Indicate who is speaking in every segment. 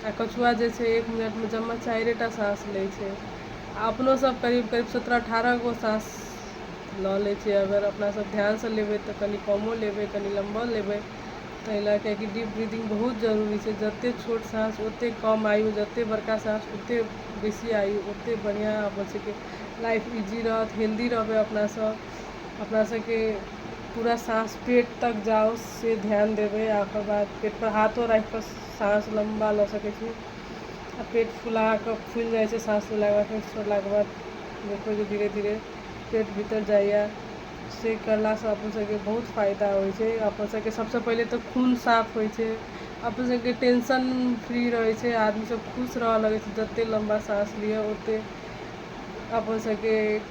Speaker 1: आ कछुआ जे छै एक मिनट मे जम्मा चाइरे टा साँस लै छै आ अपनो सब करीब करीब सत्रह अठारह गो साँस लऽ लै छै अगर अपना सब ध्यान सँ लेबै तऽ कनी कमो लेबै कनी लम्बो लेबै ताहि लए कऽ कि डीप ब्रीदिंग बहुत जरूरी छै जते छोट साँस ओते कम आयु जते बड़का साँस ओते बेसी आयु ओते बढ़िऑं अपन सबके लाइफ इजी रहत हेल्दी रहबै अपना सब अपना सबके पूरा साँस पेट तक जाउ से ध्यान देबै आ ओकर बाद पेट पर हाथो राखि कऽ साँस लम्बा लऽ सकै छी आ पेट फुला कऽ फुलि जाइ छै साँस लेलाके बाद फेर छोड़लाके बाद देखबै जे धीरे धीरे पेट भीतर जाइए से कयलासँ अपन सभके बहुत फायदा होइ छै अपन सभके सभसँ पहिले तऽ खून साफ होइ छै अपन सभके टेंशन फ्री रहै छै आदमी सभ खुश रहऽ लगै छै जते लम्बा साँस लिअ ओते अपन सभके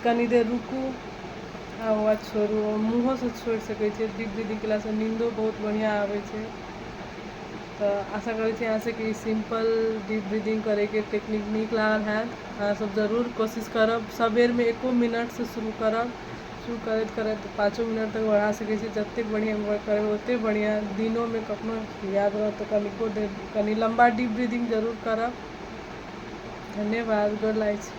Speaker 1: कनी देर रुकू आ ओकर बाद छोड़ू मुँहोसँ छोड़ि सकै छियै दीप दीदी केलासँ नीन्दो बहुत बढ़िआँ आबै छै तऽ आशा करै छी अहाँ सभके ई सिम्पल दीप ब्रीदिंग करैके टेक्निक नीक लागल हैत अहाँ सभ जरूर कोशिश करब सबेरमे एको मिनटसँ शुरू करब शुरू करैत करैत पाँचो मिनट तक बढ़ा सकै छी जतेक बढ़िआँ करबै ओतेक बढ़िआँ दिनोमे कखनो याद रहत तऽ कनिको देर कनि लम्बा दीप ब्रीदिंग जरूर करब धन्यवाद गोर लागै छी